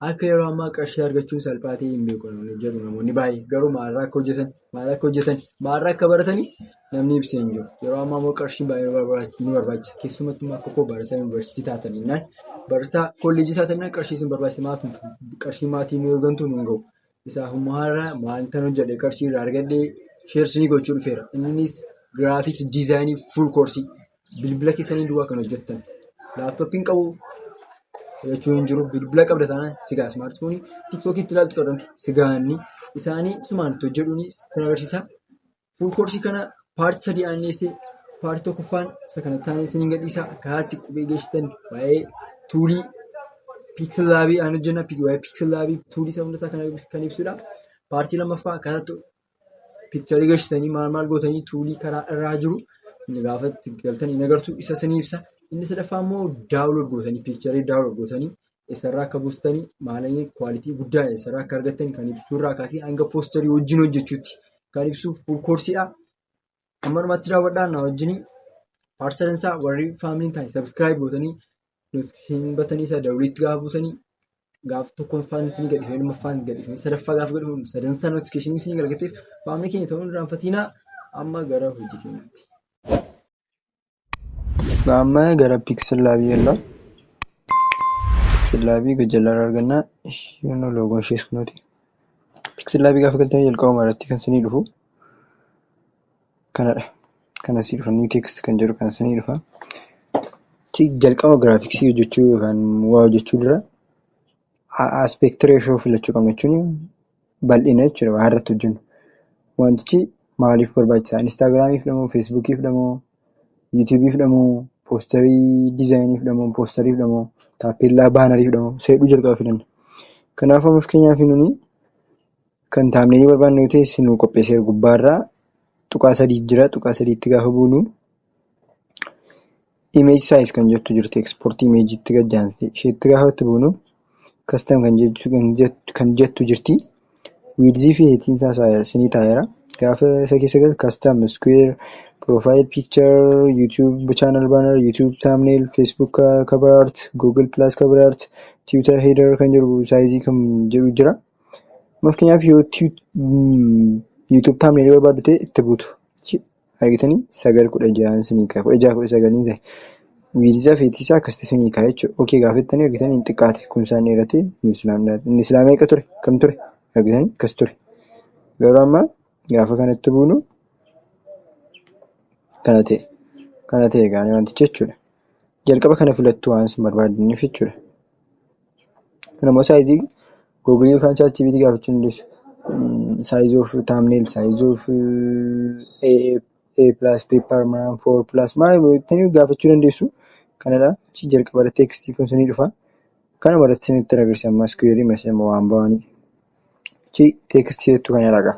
akka yeroo ammaa qarshii argachuun salphaa ta'ee hin beeku jedhu namoonni baay'ee garuu maalirraa akka hojjetan maalirraa akka hojjetan maalirraa akka baratanii namni ibsee hin jiru yeroo ammaa immoo qarshiin baay'ee nu barbaachisa keessumattuu akka koo barataa yuunivarsiitii taatan innaan barataa kolleejii taatan innaan qarshii isin barbaachisa maaf qarshii maatii nu ergantu nu hin gahu Isaa humnaarra wanta hojjete qarshii irraa argadhe sheersii gochuu dhufeera. Innis giraafiks diizaayinii fuul koorsii bilbila keessanii duwwaa kan hojjettan. Laaptooppiin qabu jechuun hin jiru bilbila qabda taanaan sigaa ismaartifoonii tiktookii itti ilaaltu qabdan sigaanni isaanii sumaan itti hojjetuun itti agarsiisa. Fuul koorsii kana paartii sadii aanneessee paartii tokkoffaan isa kana taanee isiniin gadhiisa. Karaa itti qubee geessitan waa'ee tuulii piiksel laabii aan hojjenna. Waa'ee piiksel laabii tuulii isa hundasaa kan ibsudha. Paartii lammaffaa akkaataa itti piikcharii geessitanii maal maal gootanii tuulii karaa irraa jiru inni gaafa itti galtan hin agartu isa isinii ibsa. Inni sadaffaa immoo daawulood gootanii piikcharii daawulood gootanii eessarraa akka buustani maalanii kwaalitii guddaa eessarraa akka argattani kan ibsuurraa kaasee hanga poostarii wajjin hojjechuutti kan ibsuuf fuul koorsiidha. Amma dhumaatti daawwadhaa na wajjin paartisadan isaa warri faamiliin taane sabiskiraayib gootanii notifikashinii batanii isaa daawwitiitti gaafa buutanii gaafa tokkoon faan isinii gadhiifee lammaffaan gadhiifee sadaffaa gaafa gadhiifee sadansaa notifikashinii isinii galgateef faamilii keenya ta'uun irraanfatiinaa amma gara hojii keenyaatti. amma gara pixel lab yalla pixel lab gajalla arganna yono logon ishee sunoti pixel lab gafa galtanii jalqaba maratti kan sinii dhufu kanadha kana si dhufa new text kan jedhu kan sinii dhufa jalqaba graphics hojjechuu yookaan waa hojjechuu dura aspect ratio filachuu qabna jechuun bal'ina jechuudha waan irratti hojjennu. Wantichi maaliif barbaachisaa? Instaagiraamiif dhamoo, Feesbuukiif dhamoo, Yuutuubiif dhamoo, poostarii dizaayiniif dhamoo, poostariif dhamoo, taappeellaa baanariif dhamoo isa jedhu jalqaba filanna. Kanaaf amma fakkeenyaaf nuni kan taamneelii barbaannu yoo ta'e isinuu qopheesseera gubbaarraa tuqaa sadii jira tuqaa sadiitti gaafa buunu Image size kan jettu jirti export image tti gad aansitee isheetti gaafa itti buunu custom kan jettu jirti width fi height isaa isinii taa'eera gaafa isa keessa galtan custom square profile picture youtube channel banner youtube thumbnail facebook cover art google plus cover art twitter header kan jedhu size kan jedhu jira. Fakkeenyaaf yoo youtube thumbnail barbaaddu ta'e itti buutu. Argitanii? Sagal kudha jahaan sinii ka'a. Kudha jaha kudha sagal ni ta'e. Wiidisaa fi heetisaa akkasitti sinii ka'a jechuudha. Okee gaafettanii argitanii hin xiqqaate. Kumsaan dheeratee nuus laamdaati. Inni silaa meeqa ture? Kam ture? Argitanii? Akkas ture. Garuu amma gaafa kanatti buunu kana ta'e. Kana ta'e gaanii wantichi jechuudha. Jalqaba kana filattu waan isin barbaadaniif jechuudha. Kanammoo saayizii googilii yookaan chaatjiipiitii gaafachuu dandeessu. Size of thumbnail, size of A+paper, A4+, maal jettanii gaafachuu dandeessu. Kanadha. Achi jalqabarra teekstii kun isinii dhufa. Kanumarratti isinitti agarsiisa amma iskuweerii meeshammoo waan ba'anii. Achi teekstii jettu kana dhaqa.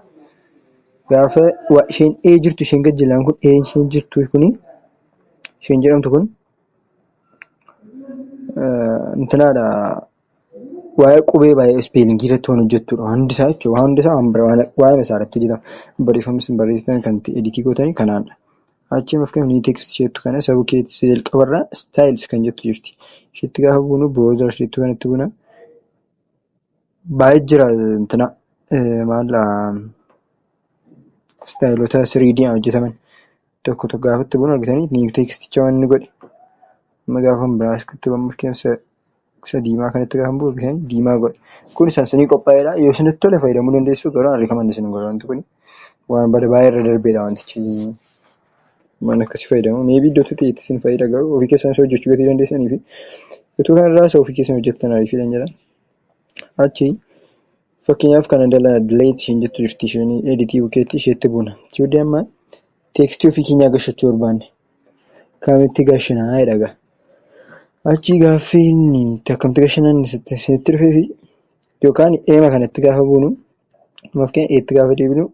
Gaafa isheen A jirtu isheen gajjallaan kun A isheen jirtu kuni isheen jedhamtu kun Intinaadha waa'ee qubee baay'ee ispeelingii irratti waan hojjettudha. Hundi isaa jechuudha. Waan hundi isaa waan bira waa'eema isaa irratti hojjetama. Barreeffama isin barreessitan kan itti editii gootanii kanaadha. Achi immoo fakkeenyaaf niw teekstii isheetu kana isa bukkee isa jalqaba irraa istaayils kan jettu jirti. Isheetti gaafa buunu biroozer isheetti kanatti buuna. Baay'ee jira intina maala istaayilota 3D hojjetaman. tokko tokko gaafatti bun argitanii niif teekisticha wanni godhe amma gaafa biraa iskutti bammuuf keessa isa diimaa kanatti gaafa buu argitan diimaa godhe kun isaan sinii qophaa'eedha yoo isinitti tole fayyadamuu dandeessu garuu an rikaman isin godha wanti kun waan bada baay'ee irra darbeedha wantichi waan akkasii fayyadamu meebii iddoo tuti itti isin fayyada garuu ofii keessan isa hojjechuu gatii dandeessanii fi utuu kanarraa isa ofii keessan hojjettan ariifiidhan jedha Achi fakkeenyaaf kana dala delete isheen jettu jirti isheen edit bukeetti isheetti buuna. Chudi amma teekstii ofii keenyaa gashachuu barbaanne. Kaamitti gashinaa jedhaga. Achi gaaffiin akkamti gashinan isinitti dhufee fi yookaan eema kanatti gaafa buunu maaf keenya eetti gaafa deebinu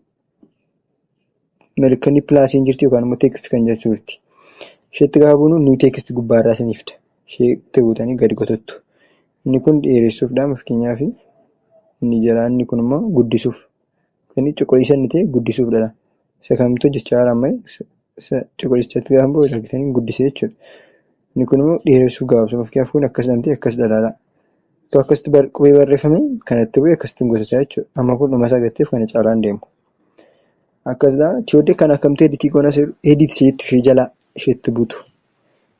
Mallattoon pilaasii hin jirtu yookaan immoo text kan jettu jirti. Isheetti gaafa buunu new text gubbaarraa isinii fida. Isheetti buutanii gadi kotottu. Inni kun dheeressuufdha fakkeenyaaf inni jalaa inni kun immoo guddisuuf. Inni cuquliisa inni ta'e guddisuufdha. Isa kamtu hojjechaa jira amma? Isa cuquliisatti gaafa bu'u argitanii guddisee jechuudha. Inni kun immoo dheeressuuf gabaabsuuf. Fakkeenyaaf kun akkas jedhamtee akkas jedha ilaalaa. Tu akkasitti bar- qubee barreeffame kan itti bu'e akkasitti gosotaa jechuudha. Amma kun dhuma isaa gatteef kana caalaan deemu. Akkasuma tiyoodee kan akkamtee editii goona seeru edit isheetti ishee jalaa isheetti butu.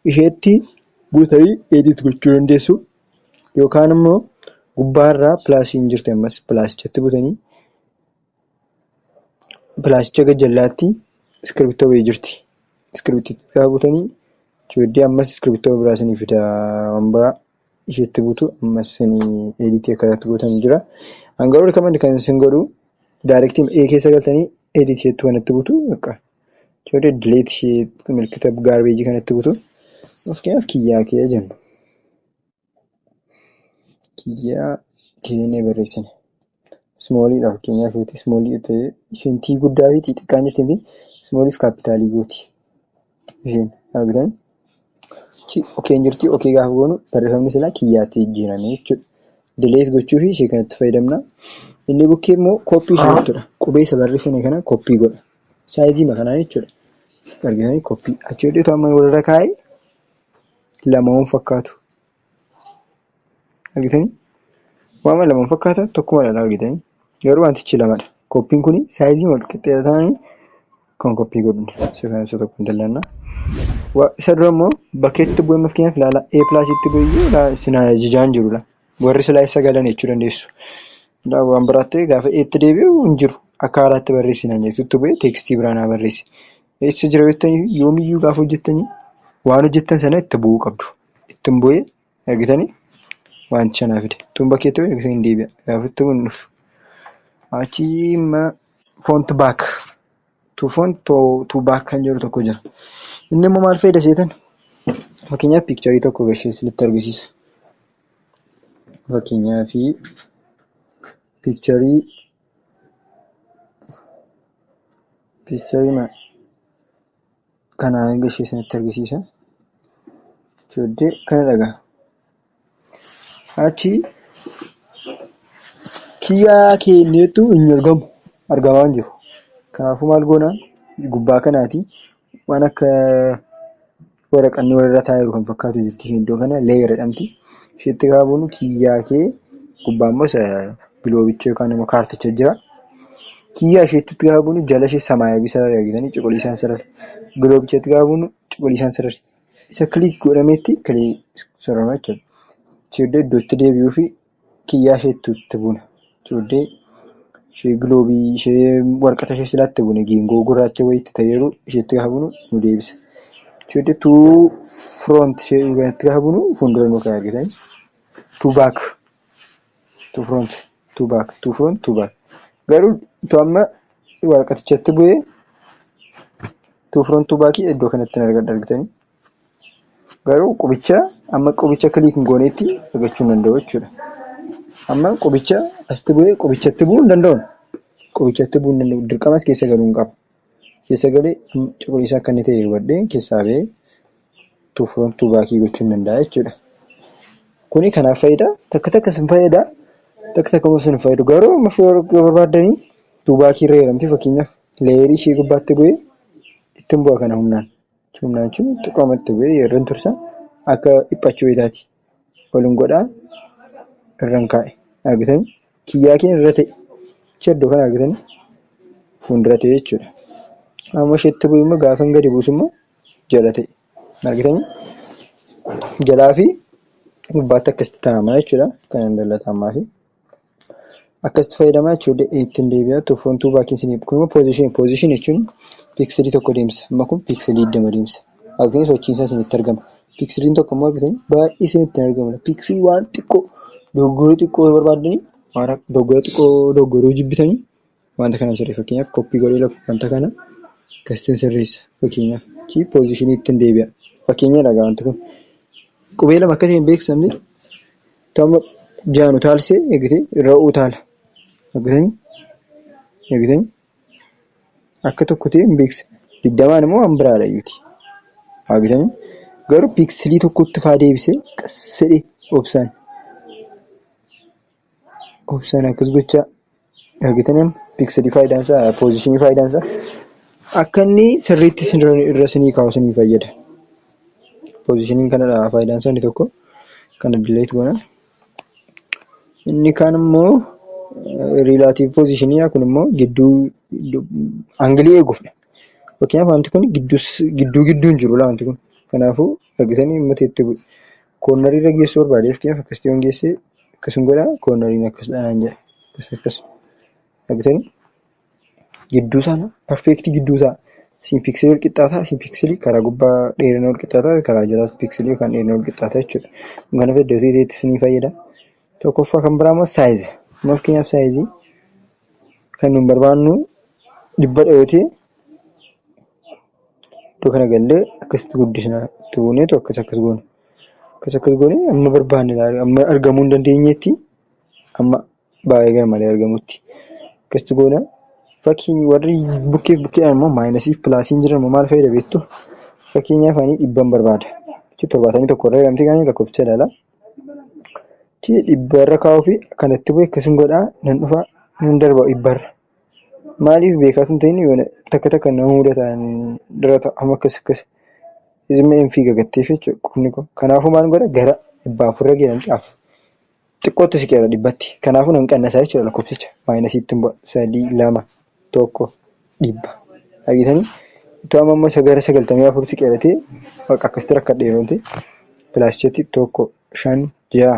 Isheetti butanii edit gochuu dandeessu yookaan immoo gubbaarraa pilaasiin jirti ammas pilaasichatti butanii pilaasicha gajjallaatti iskirbittoo wayii jirti. Iskirbittoo gaafa butanii tiyoodee ammas iskirbittoo biraa isinii fida waan biraa. ishiitti butu ammas sin editii akkataatti gootan jira an garuu recommend kan sin godhu direct a keessa galtanii edit jettu kanatti butu akka jedhu delete ishii milkita garbage kanatti butu fakkeenyaaf kiyyaa kee jennu kiyyaa keenee barreessine Ismooliidha fakkeenyaa fi ismoolii ta'ee isheen tii guddaa fi tii xiqqaan jirti fi ismooliif kaappitaalii gooti. Isheen argitan chi okeen jirti okee gaafa goonu barreeffamni silaa kiyyaatti jijjiirame jechuudha. Dileet gochuu fi ishee kanatti fayyadamna. Inni bukkee immoo koppii ishee jechuudha. Qubeessa barreeffame kana koppii godha. Saayizii makanaa jechuudha. Argitanii koppii. Achi hodheetu amma walirra kaa'ee lama waan fakkaatu. Argitanii? Waama lama hin fakkaatan tokkuma dha argitanii? Garuu wantichi lama dha. Koppiin kun saayizii wal qixxee ta'anii kan koppii godhudha. Isa kana isa tokko hin dallanna. Isa dura immoo bakkeetti bu'ee maskeenyaaf ilaala A pilaasitti bu'ee sinaa jijaan jiru dha. Warri silaa isa galan jechuu dandeessu. Waan biraatti gaafa eetti deebi'u hin jiru. Akka haaraatti barreessi naan jettu itti bu'ee teekstii biraa naa barreessi. Eessa jira jettanii yoomiyyuu gaafa hojjettanii waan hojjettan sana itti bu'uu qabdu. Ittuun boo'ee argitanii wanticha naa fide. Ittuun bakkee ta'u argitanii hin deebi'a. Kanaafuu ittuun hin dhufu. Achii imma font back to font to, to back kan jedhu tokko jira. Inni immoo maal fayyada seetan? Fakkeenyaaf piikcharii tokko gashee isinitti argisiisa. Fakkeenyaaf piikcharii piikcharii maal? Kana erga ishee isinitti argisiisa. Jooddee kana dhagaa. Achi kiyyaa keenneettu hin argamu. Argamaa hin jiru. Kanaafuu maal goona gubbaa kanaati waan akka waraqanni walirra taa'aa jiru kan fakkaatu jirti isheen iddoo kana leeyar jedhamti. Isheetti gaafa buunu kiyyaa kee gubbaa immoo giloobicha yookaan immoo kaarticha jira. Kiyyaa isheettutti gaafa buunu jala ishee samaayawii sarari argitanii cuquliisaan sarari. Giloobichatti gaafa buunu cuquliisaan sarari. Isa kiliik godhameetti kiliik sarara jechuudha. Cheeddee iddootti deebi'uu fi kiyyaa isheettutti buuna. Cheeddee ishee giloobii ishee warqata ishee silaatti buune geengoo gurraacha wayiitti ta'eeru isheetti gaafa buunu nu deebisa. Cheeddee tuu firoonti ishee gaafa buunu fuuldura nu ka'e argitanii. Tuu baak. to front to back to front to back garuu to amma waraqatichatti bu'ee to front to back iddoo kanatti hin argadha argitanii garuu qubicha amma qubicha kiliik hin gooneetti argachuu hin danda'u jechuudha. Amma qubicha asitti bu'ee qubichatti bu'uu hin danda'u. Qubichatti bu'uu hin danda'u. Dirqama as keessa galuu hin qabu. Keessa galee cuquliisa akka inni ta'e hubadhee keessaa ba'ee to front to back gochuun danda'a jechuudha. Kuni kanaaf fayyada takka takka isin fayyada takka takka immoo isin fayyadu garuu amma barbaaddanii to back irra jedhamti fakkeenyaaf leeyerii ishee gubbaatti bu'ee ittiin bu'a kana humnaan. Humnaan jechuun xiqqooma itti bu'ee yeroo tursa akka dhiphachuu wayitaati. ol hin godhaa irran kaa'e argitanii kiyyaa kee irra ta'e chaddo kan argitanii fuuldura ta'e jechuudha amma isheetti bu'e immoo gaafan gadi buusu immoo jala ta'e argitanii jalaa fi gubbaatti akkasitti taa'amaa jechuudha kan hin dallatamaa fi Akkasitti fayyadamaa jechuudha ittiin deebi'aa to front to back isin kun immoo position position jechuun piiksilii tokko deemsa amma kun piiksilii digdama deemsa argitanii sochiin isaa isinitti argama piiksiliin tokko immoo argitanii baay'ee isinitti hin argamne piiksilii waan xiqqoo dogoggora xiqqoo yoo barbaaddanii waan dogoggora xiqqoo dogoggoruu jibbitanii Wanta kana sirrii fakkeenyaaf koppii godhee lafa wanta kana kastiin sirreessa fakkeenyaaf chi poozishinii ittiin deebi'a. Fakkeenya dhagaa wanti kun qubee lama akka ta'e hin beeksifamne tama jaanu taalsee eegitee irra utaala. Eegitanii eegitanii akka tokko ta'e hin beeksifne. Digdamaan immoo waan biraadha iyyuti. Eegitanii garuu piiksilii tokkotti faa deebisee qassedhe obsaan. Obsaan akkas gochaa argitan amma pikseli faayidaan isaa poozishinii faayidaan isaa akka inni sirriitti isin irra isinii kaa'u isinii fayyada. Poozishiniin kanadha faayidaan isaa inni tokko kana dileet goona. Inni kaan immoo riilaatiiv poozishiniidha kun immoo gidduu angilii eeguufdha. Fakkeenyaaf wanti kun gidduu gidduu hin jiru wanti kun kanaafuu argitanii uummata itti bu'e. Koornarii irra geessuu barbaade fakkeenyaaf akkasitti yoon geesse akkasuma godha koornariin akkasidha naan jedha. Akkas akkas argitanii gidduu sana perfeektii gidduu ta'a. Isin piiksilii wal qixxaataa isin piiksilii karaa gubbaa dheerina wal qixxaataa karaa jalaas piiksilii yookaan dheerina wal qixxaataa jechuudha. Kun kana fayyada dafee ta'etti isinii fayyada. Tokkoffaa kan biraa immoo saayizi. Amma fakkeenyaaf saayizii kan nun barbaannu dhibbadha yoo ta'e Iddoo kana gallee akkasitti guddisna. Itti buuneetu akkas akkas goona. Akkas akkas goonee amma barbaanne ilaalu amma argamuu hin dandeenyetti amma baay'ee garmalee argamutti akkasitti goona. Fakkiin warri bukkee bukkee immoo maayinasii fi pilaasiin jiran immoo maal fayyada beektu? Fakkeenyaaf ani dhibban barbaada. Jechuun torbaatamii tokko irra jedhamti kan lakkoofsicha ilaala. Dhibba irra kaa'uu fi kanatti bu'e akkasiin godhaa nan dhufa nan darba dhibba irra. Maaliif beekaa sun ta'in yoona takka takka nama mudataan dura ta'a amma akkas akkas izimma hin fiiga gatteef jechuudha qubni koo kanaafuu maal godha gara dhibbaa afurra geeran caaf xiqqootti siqeera dhibbatti kanaafuu nan qannasaa jechuudha lakkoofsicha maayinasiitti hin bu'a sadii lama tokko dhibba dhageetanii utuu amma amma isa gara sagaltamii afur siqeeratee bakka akkasitti rakkadheerooti pilaascheetti tokko shan ja'a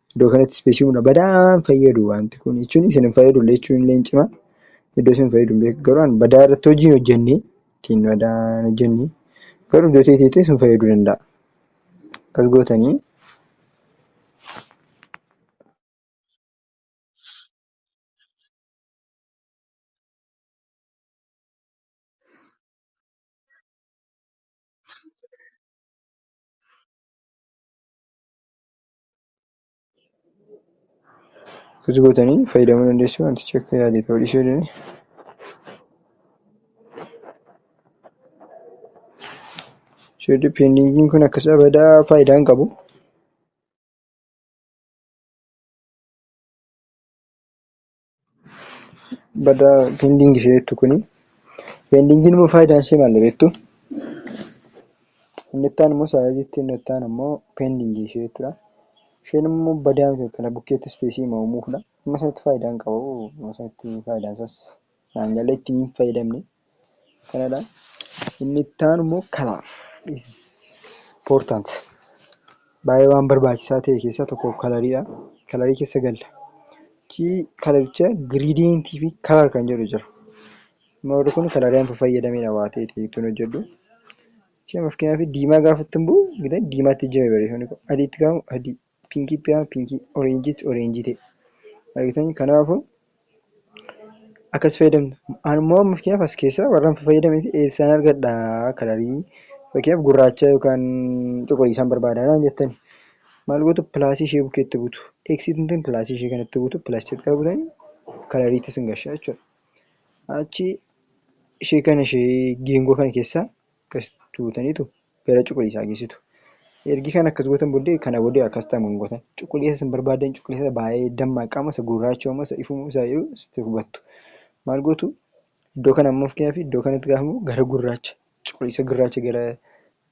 Iddoo kanatti ispeesii humna badaan fayyadu wanti kun jechuun isin hin fayyadu illee jechuun illee hin cima. Iddoo isin fayyadu hin beeku garuu badaa irratti hojii hin hojjenne ittiin badaa hin hojjenne garuu iddoo teeteetti isin fayyaduu danda'a. Akkas gootanii Akkasi gootanii fayyadamuu dandeessu wantichi akka yaade ta'uu dhiisuu danda'a. Share depending kun akkas abada faayidaa hin qabu. Bada pending ishee jettu kuni. Pendingiin immoo faayidaan ishee maal beektu? Inni itti aanu immoo saayizii jetti inni itti aanu immoo pending ishee jechuudha. Isheen immoo badaa miti kana bukkeetti ispeesii hima uumuufidha. Amma sanatti faayidaan qabu amma sanatti faayidaan isaas naan galee ittiin hin fayyadamne. Kanadha. Inni itti aanu immoo kalaar. Important. Baay'ee waan barbaachisaa ta'e keessaa tokko kalariidha. Kalarii keessa galla. Chi kalaricha giriidiyentii fi kalar kan jedhu jira. Moorri kun kalarii amma fayyadamedha waa ta'e ta'eettuun hojjedhu. Chi fakkeenyaaf diimaa gaafattan buu diimaatti jira barreeffamni kun adiitti gaafamu adii. Pinkiitti yaa pinkii, oreenjiitti oreenjii ta'e. Argitanii? Kanaafuu akkas fayyadamna. An immoo amma fakkeenyaaf as keessaa warran fayyadameeti eessaan argadha kalarii fakkeenyaaf gurraacha yookaan cuquliisaan barbaada naan jettani. Maal gootu pilaasii ishee bukkeetti buutu. Eksiitiin tun pilaasii ishee kanatti buutu pilaas jalqaba buutanii kalariitti sin gashaa jechuudha. Achi ishee kana ishee geengoo kana keessaa akkas tuutanitu gara cuquliisaa geessitu. Ergi kan akkas gootan booddee kana booddee akkas ta'amu hin gootan. Cuquliisa isin barbaadan cuquliisa baay'ee dammaa qaama isa gurraachoo moo isa ifuu isaa jedhu sitti hubattu. Maal gootu iddoo kana ammoo fakkeenyaaf iddoo kanatti gaafa immoo gara gurraacha cuquliisa gurraacha gara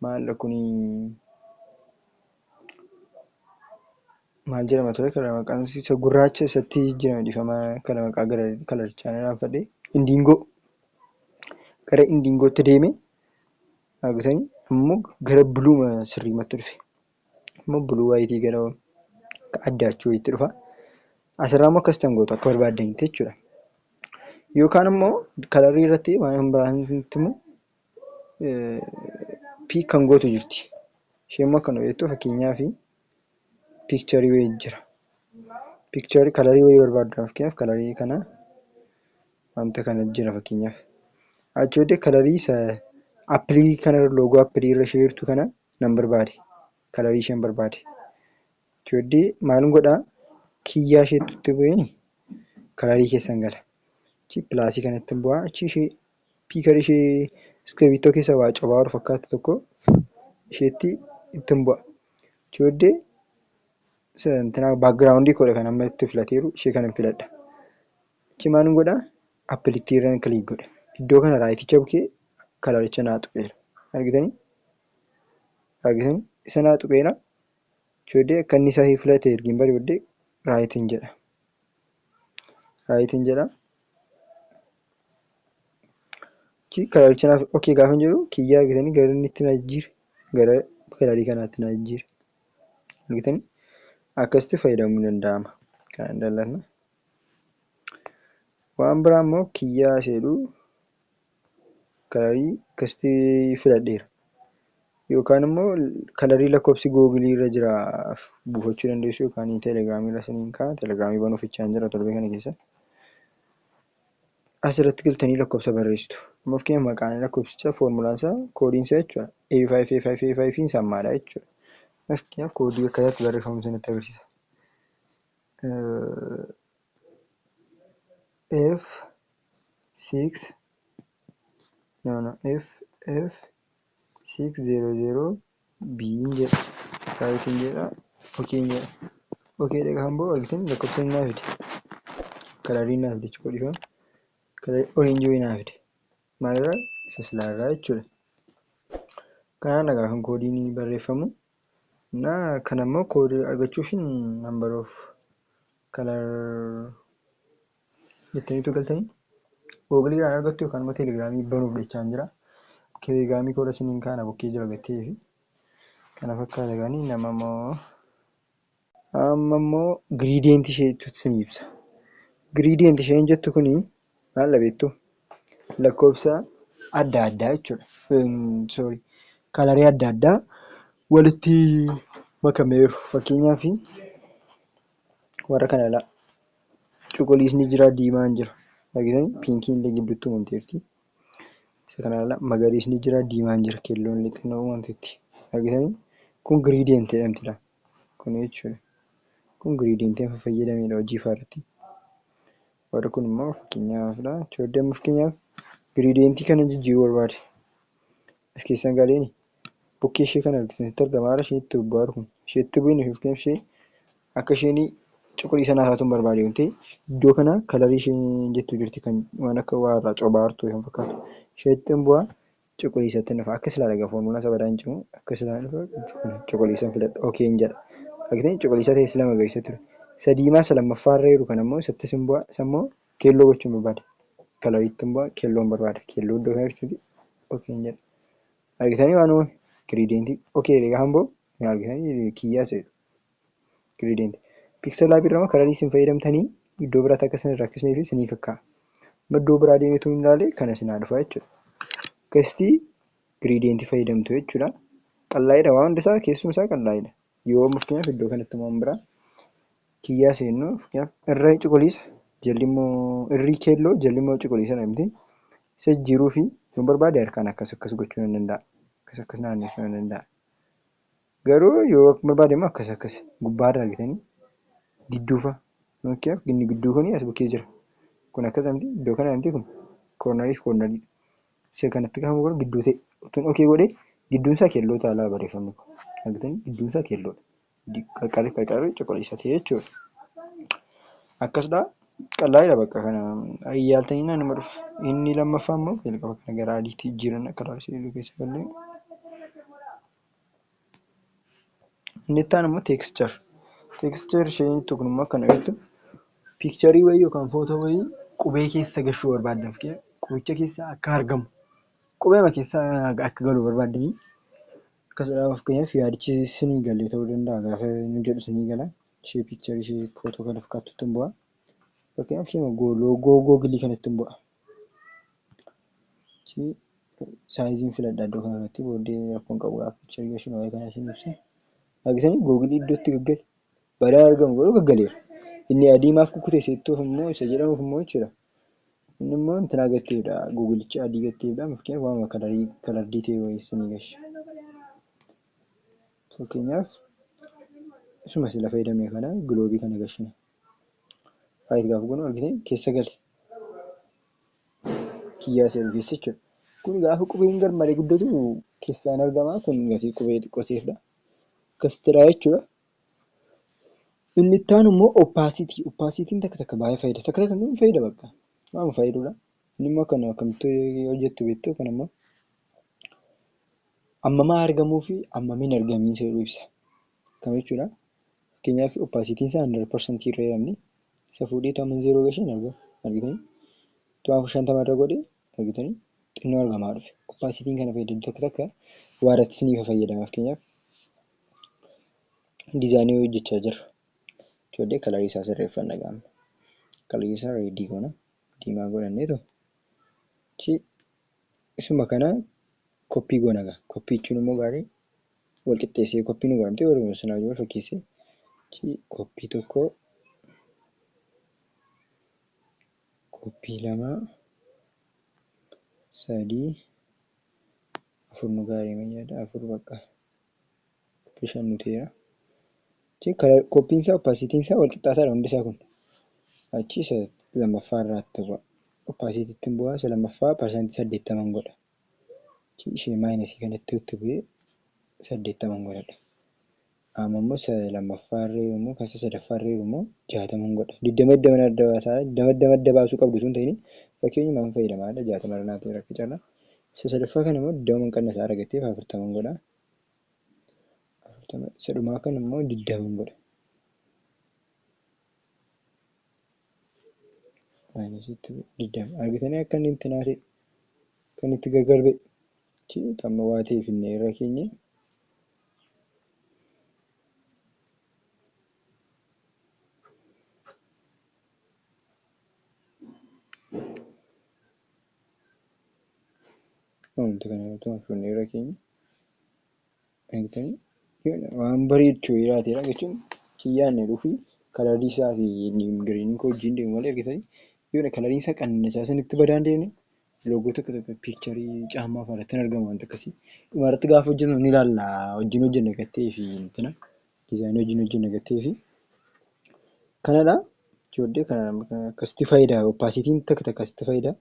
maal kuni maal jedhama ture kana maqaan isa gurraacha isatti jijjiirame dhifama kana maqaa gara kalarichaa nanaanfadhe indiingoo gara indiingootti deeme dhaabbatanii ammoo gara buluuma sirriimatti dhufe ammoo buluu waayitii gara akka addaachuu wayiitti dhufa asirraa ammoo akkas tan gootu akka barbaaddanitti jechuudha yookaan ammoo kalarrii irratti waan kan biraanitti immoo piik kan gootu jirti ishee immoo akkana beektu fakkeenyaa fi piikcharii wayii jira piikcharii kalarii wayii barbaaddu fakkeenyaaf kalarii kana wanta kana jira fakkeenyaaf achi booddee kalarii isa appilii kana loogoo appilii irra ishee jirtu kana nan barbaade kalarii isheen barbaade achi booddee maalin godhaa kiyyaa isheetti itti bu'een kalarii keessan gala achi pilaasii kanatti hin bu'aa achi ishee piikar ishee iskiribiittoo keessa waa cobaa ol fakkaatu tokko isheetti itti hin bu'a achi booddee santinaa baakgiraawundii koodha kan amma itti filateeru ishee kana filadha Achi maalun godha applicti irran click godhe iddoo kana raayiticha bukee kalaricha naa tuqeera argitani argitani isa naa tuqeera jooddee akka inni sahii filate ergiin bari boddee raayitiin jedha raayitiin jedha achi kalaricha naaf okay gaafan jedhu kiyyaa argitani gara inni itti naa jijjiire gara kalarii kanaatti naa jijjiire argitani akkasitti fayyadamuu danda'ama kan dallatna Waan biraa immoo kiyyaa isa jedhu kalarii akkasitti filadheera. Yookaan immoo kalarii lakkoofsi googilii irra jira buufachuu dandeessu yookaan telegiraamii irra siniin ka'a. Telegiraamii banuuf ichaan jira torbee kana keessa. Asirratti galtanii lakkoofsa barreessitu. Amma fakkeenyaaf maqaan lakkoofsichaa foormulaan isaa koodiin isaa jechuudha. A5 A5 A5 sammaadha jechuudha. Fakkeenyaaf koodii akkaataa itti barreeffamu isinitti agarsiisa. F six no no F F six zero zero B hin jedha right hin jedha okay hin jedha okay jedha kan boo argitan lakkoofsa hin naafide kalarii naafide jechuudha dhifama kalarii orange wayii naafide maalirraa isa silaarraa jechuudha kanaan dhagaa kan koodiin barreeffamu እና kana immoo koodii argachuufin number of color jettaniitu galtanii google irraan argattu yookaan immoo telegiraamii banuuf dhachaan jira telegiraamii koora siniin kaana bokkee jira gattee fi kana fakkaata gaanii nama immoo Amma immoo giriidiyeenti isheetu isin ibsa. Giriidiyeenti isheen jettu kun maal beektu? Lakkoofsa adda addaa jechuudha. Sorry kalarii adda addaa walitti makamee jiru. Fakkeenyaaf warra kana ilaa. Cuquliisni jira, diimaan jira. Argitanii? Piinkiin illee gidduutti uumamteerti. Isa kana ilaa. Magariisni jira, diimaan jira, keelloon illee xinnoo uumamteetti. Argitanii? Kun giriidiyeenti jedhamti ilaa. Kun jechuun kun giriidiyentii amma fayyadamedha hojii faa irratti. Warri kun immoo fakkeenyaafidha. Choodii amma fakkeenyaaf giriidiyentii kana jijjiiruu barbaade. As keessan galeeni bukkee ishee kana argitan sitti argama haala isheen itti bobbaaru kun ishee itti bu'in ishee fakkeenyaaf ishee akka isheen cuquliisa naa taatuun barbaade yoo ta'e iddoo kana kalarii isheen jettu jirti kan waan akka waa irraa cobaartu kan fakkaatu ishee itti bu'a cuquliisatti hin dhufa akka silaa dhaga foormulaa isa badaan cimu akka silaa hin dhufa cuquliisan filadha ok hin jedha argitan cuquliisa ta'e sila magariisa ture isa diimaa isa lammaffaa irra jiru kan ammoo isattis hin bu'a isa immoo keelloo gochuun barbaada kalariitti hin bu'a keelloon barbaada keelloo iddoo kana jechuuti ok hin jedha argitanii waan uumame giriideentii ok jedhe gaafa hin bu'u hin argitanii kiyyaa seetu gradient pixel lab irrama kararii isin fayyadamtanii iddoo biraatti akka isin hin rakkisnee fi isinii kakkaa amma iddoo biraa deemee tun hin laale kana isin haa dhufaa jechuudha akkasitii gradient fayyadamtu jechuudha qallaa'idha waan hundisaa keessuma isaa qallaa'idha yoo mufkeenyaaf iddoo kanatti waan biraa kiyyaa seennu fkeenyaaf irra cuquliisa jalli immoo irrii keelloo jalli immoo cuquliisa dhamti isa jijjiiruu fi yoon barbaade harkaan akkas akkas gochuu nan danda'a akkas akkas naanneessuu nan danda'a Garuu yoo akka barbaade immoo akkas akkas gubbaa irra argitanii gidduu fa'a fakkeenyaaf inni gidduu kun as bukkee jira kun akkas amti iddoo kana amti kun koornarii fi koornarii isa kanatti kan godhu gidduu ta'e utuun okee godhee gidduun isaa keelloo taalaa barreeffamni kun argitanii gidduun isaa keelloodha qarqarri qarqarri cuquliisa ta'e jechuudha akkasdha qallaadha bakka kana ayyaaltanii naanuma dhufa inni lammaffaa immoo jalqaba kana gara adiitti jijjiiran akka laalu keessa gallee Inni itti aanu immoo teekischar. Teekischar isheen jettu kun immoo akkana jechuun piikcharii wayii yookaan footoo wayii qubee keessa galchuu barbaadda. Fakkeenyaaf qubicha keessa akka argamu, qubeema keessa akka galu barbaaddanii akkas jedhaa fakkeenyaaf yaadichi sinii hin galle ta'uu danda'a gaafa inni jedhu sinii gala. Ishee piikcharii ishee footoo kana fakkaattutti hin bu'aa. Fakkeenyaaf isheema loogoo googilii kanatti hin bu'aa. Saayiziin filadhaa iddoo kana irratti booddee rakkoon qabu appicha yoo isin waa'ee kana isin ibsa. Argitanii googilii iddoo itti gaggale badaa argamu garuu gaggaleera. Inni adii maaf kukkutee seettuuf immoo isa jedhamuuf immoo jechuudha. Inni immoo intinaa gatteedha googilicha adii gatteedha fakkeenyaaf waanuma kalarii kalardii ta'e wayii isinii gasha. Fakkeenyaaf isuma sila fayyadamne kana giloobii kana gashine. Right gaafa goonu argitee keessa gale. Kiyyaa seenu keessa jechuudha. Kun gaafa qubeen garmalee guddatu keessaan argama. Kun gatii qubee xiqqoo ta'eefidha. Akkasittiidha jechuudha. Inni itti aanu immoo oppaasitii. Oppaasitiin takka takka baay'ee fayyada. Takka takka immoo hin fayyada bakka. Waan fayyadudha. Inni immoo kan akkamitti hojjettu beektu kan immoo ammamaa argamuu fi ammamiin argamiinsa jedhu ibsa. Akkam jechuudha. Fakkeenyaaf opacity isaa 100% irra hiramne isa fuudhee utuu amma zeeroo gashe hin argamu argitanii utuu amma 50 irra godhe argitanii xinnoo argamaa dhufe opacity kana fayyadamtu takka takka waa irratti isiniif fayyadama fakkeenyaaf dizaanii wayii hojjechaa jirra ijoollee kalarii isaa sirreeffanna gaamma kalarii isaa reedii goona diimaa godhanneetu chi Isuma kana koppii goona gaa. Koppii jechuun immoo gaarii wal qixxeessee koppii nu godhamtee warri sana wajjin wal fakkeessee koppii tokko koppii lama sadii afur nu gaarii mayyaadha afur bakka. Bishaan nuteera. Jechuun kala qophiin isaa oppaasiitiin isaa wal qixxaataa dha hundi isaa kun. Achi isa lammaffaa irraatti bu'a. Oppaasiitiittiin bu'aa isa lammaffaa parsantii saddeettaman godha. Achi ishee maayinasii kanatti itti bu'ee saddeettaman godhadha. Amma immoo isa lammaffaa irree immoo kan isa sadaffaa irree immoo jaataman godha. Digdama digdama adda baasaa digdama digdama adda baasuu qabdu osoo hin ta'in fakkeenyumaan fayyadamaadha jaatama irra naaf ta'eera akka carraa. Isa sadaffaa kana immoo digdama qannasaa argatee afurtaman godha. afurtama isa dhumaa kan immoo digdaman godha maayinasitti digdama argitanii akka inni itti naate kan itti gargar ba'e chi amma waa ta'e finne irra keenye Wanti kana irratti maal fudhanne irra keenya? Argitanii? Yoo waan bareechu jiraatedha jechuun kiyyaan jedhu fi kalarii isaa fi giriinii koo wajjin deemu malee argitanii? Yoo kalariin isaa qannasaa sanitti badaa hin deemne loogoo tokko tokko piikcharii caammaa fa'aa irratti hin argamu wanti akkasii. Dhuma irratti gaafa hojjennu ni ilaalla wajjin hojjenna gattee fi intina. Design wajjin wajjin nagattee fi kanadha joodde akkasitti fayyida opacity takka takka asitti fayyida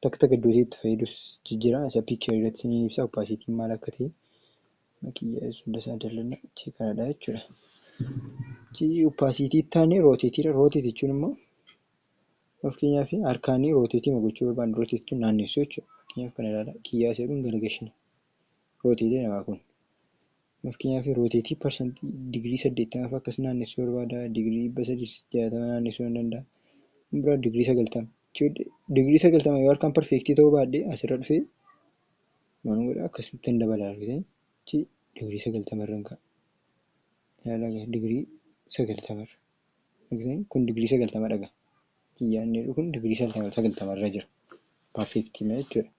takka takka iddoo itti fayyidus jijjira isa picture irratti isiniin ibsa opacity maal akka ta'e makiyya hunda isaa dallanna achi kanadha jechuudha. Achi opacity taane rotate dha rotate jechuun immoo fakkeenyaaf harkaanii rotate gochuu barbaanne rotate jechuun naannessuu jechuudha fakkeenyaaf kana ilaala kiyyaa isa jedhuun garagashinaa. Rootii dee namaa kun. Mafkinyaa fi rootee tii parsantii digirii saddeettama fa akkas naannessuu barbaada digirii dhibba sadii fi jaatama naannessuu nan danda'a kan biraa digirii sagaltama ijoollee digirii sagaltama yoo harkaan parfeektii ta'uu baadhee asirra dhufee maalan godha akkasittan dabala argitanii chi digirii sagaltama irran ka'a ilaalaga digirii sagaltama irra argitanii kun digirii sagaltama dhaga kiyyaa inni jedhu kun digirii sagaltama irra jira parfeektii ma jechuudha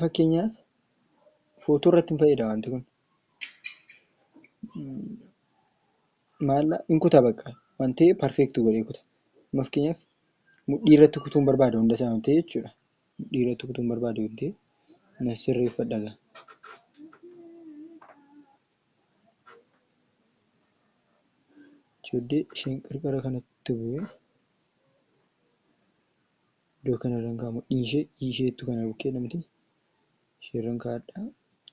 Fakkeenyaaf footoo irratti hin fayyada wanti kun. Maal hin kuta bakka waan ta'eef perfect godhee kuta. Amma fakkeenyaaf mudhii irratti kutuu hin barbaadu hunda isaa waan ta'eef jechuudha. Mudhii irratti kutuu hin barbaadu waan ta'eef na sirreeffadha gaa. Ijoollee isheen qarqara kanatti bu'ee. Iddoo kana irran kaa mudhii ishee i ishee ittu kana bukkee namti ishee irran kaadha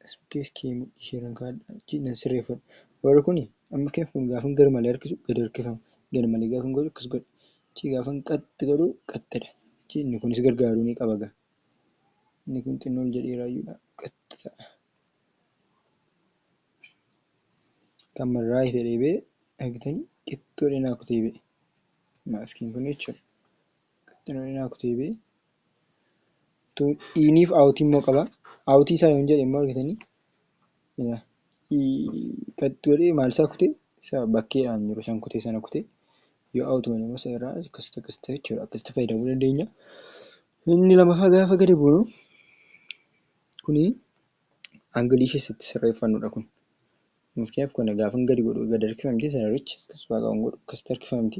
as bukkee iskee mudhii ishee irran kaadha ichi nan sirreeffadha warri kuni amma kef kun gaafan gar malee harkisu gad harkifama gad malee gaafan godhu akkas godha ichi gaafan qaxxi godhu qaxxidha ichi inni kunis gargaaruu ni qaba gaa inni kun xinnoo ol jedhee raayyuudha qaxxi ta'a kan marraa fedhee bee argitanii qixxi godhee naa kutee bee maaskiin kun jechuudha. Qaxxanoon inaa kutee bee. Utuu iiniif aawutii immoo qaba. Aawutii isaa yoon jedhe immoo argitanii. Yaa. Qaxxi godhee maal isaa kutee isa bakkeedhaan jiru san kutee sana kutee. Yoo aawutii godhe immoo isa irraa akkasitti akkasitti jechuudha. Akkasitti fayyadamuu dandeenya. Inni lamaffaa gaafa gadi buunu kuni angilii keessatti sirreeffannudha kun. Fakkeenyaaf kana gaafan gadi godhu gad harkifamti sana richi akkasumaa qaban godhu akkasitti harkifamti.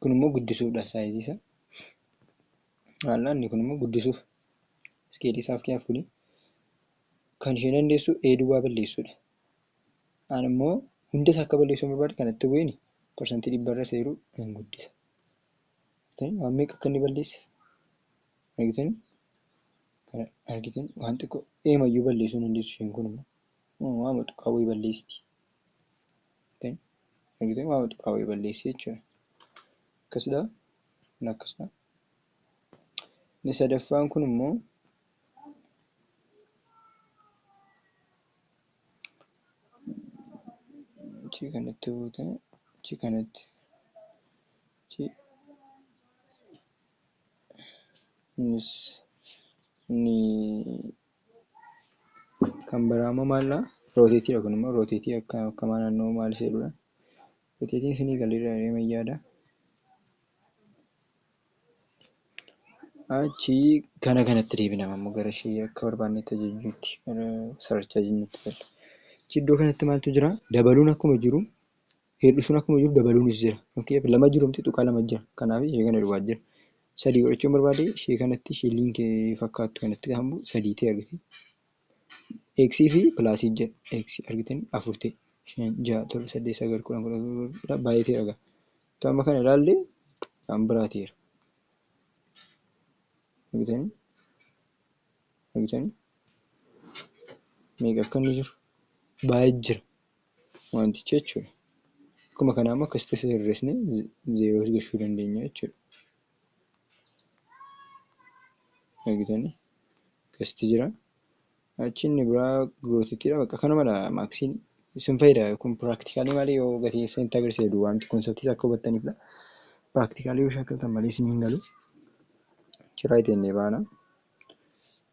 kun immoo guddisuudha saayizii isaa haal'aanni kun immoo guddisuuf iskeelii isaaf kiyaaf kuni kan ishee dandeessu ee duwwaa balleessuudha aan immoo hunda isaa akka balleessuu barbaade kanatti bu'een parsantii dhibbarra seeruu nan guddisa waan meeqa akka inni balleesse argitan kana argitan waan xiqqoo eemayyuu balleessuu dandeessu isheen kun immoo waama tuqaa wayii balleessti Argitee waan tuqaa wayii balleessi jechuudha. Akkasidha. Kun akkasidha. Inni sadaffaan kun immoo achii kanatti buute achii kanatti achii innis inni Kan biraa immoo maalla rooteetii kun immoo rooteetii akka akkamaa naannoo maal seeludha. Rooteetiin sinii galiirra deema yaada. Achi kana kanatti deebina ammoo gara ishee akka barbaannetti ajajjuutti sararchaa jennutti galla. Achi iddoo kanatti maaltu jira? Dabaluun akkuma jiru Hir'isuun akkuma jiru dabaluunis jira. Fakkeenyaaf lama jiru miti tuqaa lama jira. Kanaaf ishee kana duwwaa jira. Sadii godhachuun barbaade ishee kanatti ishee liinkii fakkaattu kanatti gaafa bu'u sadii ta'e argite. X fi pilaasii jedha. X argitan afur ta'e. Shan ja'a torba saddeet sagal kudhan kudha kudha baay'ee ta'e argaa. Utuu amma kana ilaalle waan biraa ta'eera. Argitanii? Argitanii? Meeqa akka inni jiru baay'ee jira. wanticha jechuudha. Akkuma kanaa immoo akkasitti isa sirreessine zeeroo as gashuu dandeenya jechuudha. Argitanii? Akkasitti jira. Achi inni biraa gootittidha. Bakka kanumadha maaksiin isin fayyada. Kun piraaktikaalii malee yoo gatii keessa itti agarsiise duwwaamti konseptiis akka hubattaniifidha. Piraaktikaalii yoo shaakaltan malee isin hin galu. Achirraa ittiin baana.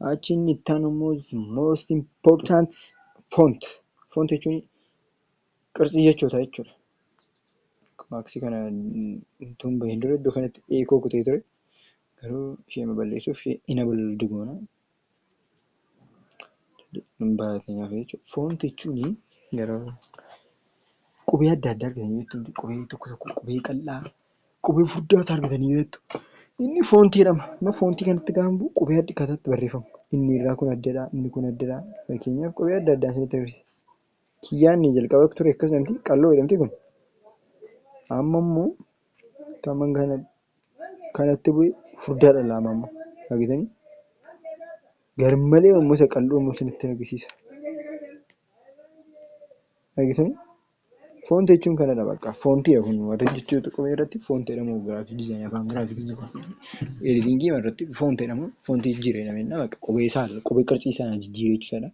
Achi inni itti aanu immoo most important font. Font jechuun qarxii jechoota jechuudha. Maaksii kana utuu hin bahin dura iddoo kanatti eekoo kutee ture. Garuu ishee balleessuuf enable digoona. Baatinaaf jechuudha. Font jechuun yeroo qubee adda addaa argitanii jechuudha. Qubee tokko tokko qubee qal'aa. Qubee furdaa isaa argitanii beektu? Inni foontii jedhama. Amma foontii kanatti gaafa bu'u qubee adda akkaataa itti barreeffamu. Inni irraa kun addadha, inni kun addadha. Fakkeenyaaf qubee adda addaan isinitti agarsiisa. Kiyyaan inni jalqaba ture akkas jedhamti, qalloo jedhamti kun. Amma immoo taman kana kanatti bu'e furdaadha laama amma. Argitanii? Garmalee immoo isa qal'oo immoo isinitti agarsiisa. Argitanii? Foonti jechuun kanadha bakka. Foonti jedha kun warri jechuu tuqame irratti foonti jedhama giraafii dizaayinii afaan giraafii editingii irratti foonti jedhama. Foonti jijjiire jedhama jennaan bakka qubee isaa qubee qarxii isaa jijjiire jechuudha.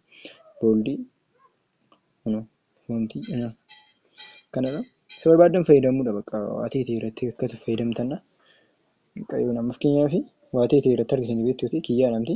Booldii kunoo foonti jedhama. Kanadha. Isa barbaaddan fayyadamuudha bakka waa ta'e ta'e irratti akka itti fayyadamtana. Fakkeenyaaf waa ta'e ta'e irratti argitanii beektu kiyyaadha miti.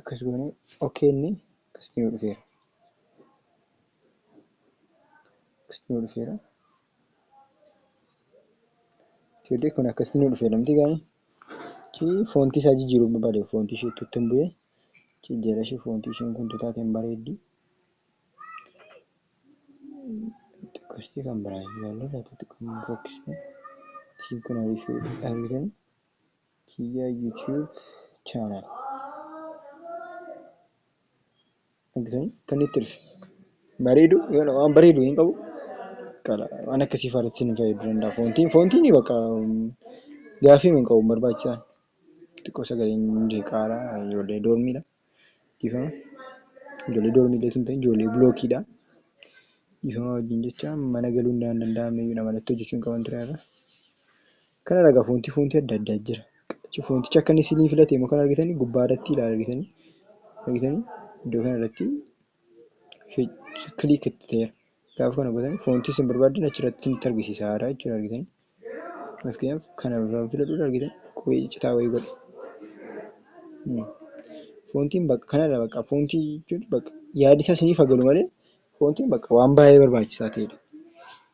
akkas goone ok inni akkasitti nu dhufeera akkasitti nu dhufeera ijoollee kun akkasitti nu dhufeera miti gaani chi foontii isaa jijjiiruu barbaade foontii ishee tuttu hin bu'ee chi jala ishee foontii isheen kun tutaate hin bareeddi xiqqoostii kan biraa ilaallee laata xiqqoo hin fokkisne ishiin kun hariifee argitan kiyya YouTube channel argitanii kan itti dhufe bareedu yoo waan bareedu hin qabu qala waan akkasii faarratti isin fayyadu danda'a foontiin foontiin bakka gaafii hin qabu barbaachisaan xiqqoo sagaleen jeeqaara ijoollee doormiidha dhiifama ijoollee doormiidha sun ta'e ijoollee bilookiidha dhiifama wajjin jecha mana galuun danda'amee jedha malatti hojjechuu hin qaban ture irra Kana dhagaa foontii foontii adda addaa jira. Foonticha akka inni sinii filate immoo kan argitanii gubbaa irratti ilaala argitanii argitanii iddoo kana irratti kiliik itti ta'eera. Gaafa kana gootan foontii isin barbaaddan achi irratti isinitti argisiisa haaraa jechuudha argitanii. Fakkeenyaaf kana irraa filadhuudha argitan qubee ciccitaa wayii godhe. Foontiin bakka kanadha bakka foontii jechuun bakka yaadi isaa isiniif haa galu malee foontiin bakka waan baay'ee barbaachisaa ta'edha.